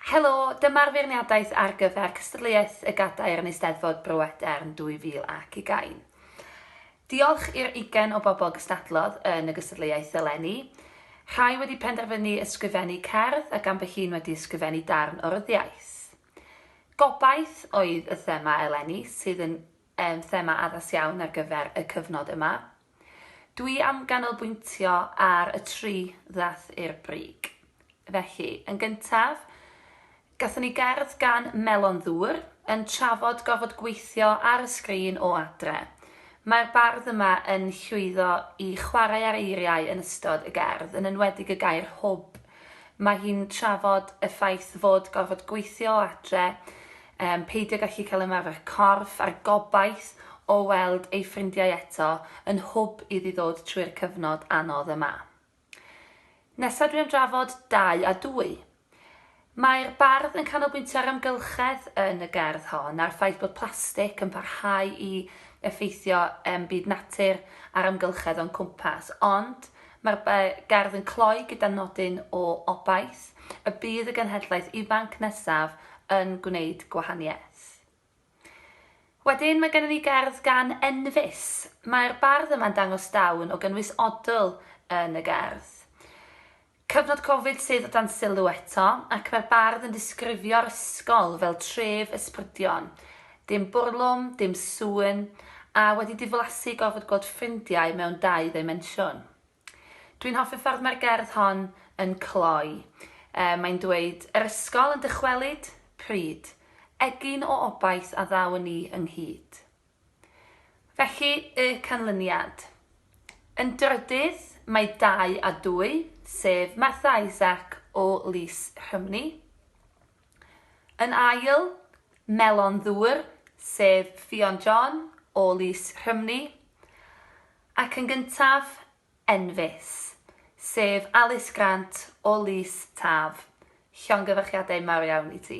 Helo, dyma'r feirniadaeth ar gyfer cystadleuaeth y Gadair yn Eisteddfod Bro Edern 2020. Diolch i'r ugain o bobl gystadlodd yn y gystadleuaeth eleni. Rhai wedi penderfynu ysgrifennu cerdd ac ambell un wedi ysgrifennu darn o ryddiaith. Gobaith oedd y thema eleni sydd yn yn thema addas iawn ar gyfer y cyfnod yma. Dwi am ganolbwyntio ar y tri ddath i'r brig. Felly, yn gyntaf, gatho ni gerdd gan Melon Ddŵr yn trafod gorfod gweithio ar y sgrin o adre. Mae'r bardd yma yn llwyddo i chwarae ar eiriau yn ystod y gerdd, yn enwedig y gair hwb. Mae hi'n trafod y ffaith fod gorfod gweithio o adre Yym, peidio gallu cael ymarfer corff a'r gobaith o weld ei ffrindiau eto yn hwb iddi ddod trwy'r cyfnod anodd yma. Nesa dwi am drafod dau a dwy. Mae'r bardd yn canolbwyntio ar amgylchedd yn y gerdd hon a'r ffaith bod plastig yn parhau i effeithio yym byd natur a'r amgylchedd o'n cwmpas, ond Mae'r gerdd yn cloi gyda nodyn o obaith y bydd y genhedlaeth ifanc nesaf yn gwneud gwahaniaeth. Wedyn mae gennym ni gerdd gan Enfys. Mae'r bardd yma'n dangos dawn o gynnwys odl yn y gerdd. Cyfnod Covid sydd o dan sylw eto, ac mae'r bardd yn disgrifio'r ysgol fel tref ysbrydion. Dim bwrlwm, dim sŵn, a wedi diflasu gorfod gweld ffrindiau mewn dau ddimensiwn. Dwi'n hoffi'r ffordd mae'r gerdd hon yn cloi. Yy, mae'n dweud, Yr ysgol yn dychwelyd? Pryd? Egin o obaith a ddaw'n ni ynghyd. Felly, y canlyniad. Yn drydydd, mae dau a dwy, sef Martha Isaac o Lys Rhymni, Yn ail, Melon Ddŵr, sef Ffion John o Lys Rhymni. Ac yn gyntaf, Enfys, sef Alys Grant o Lys Taf. Llongyfarchiadau mawr iawn i ti.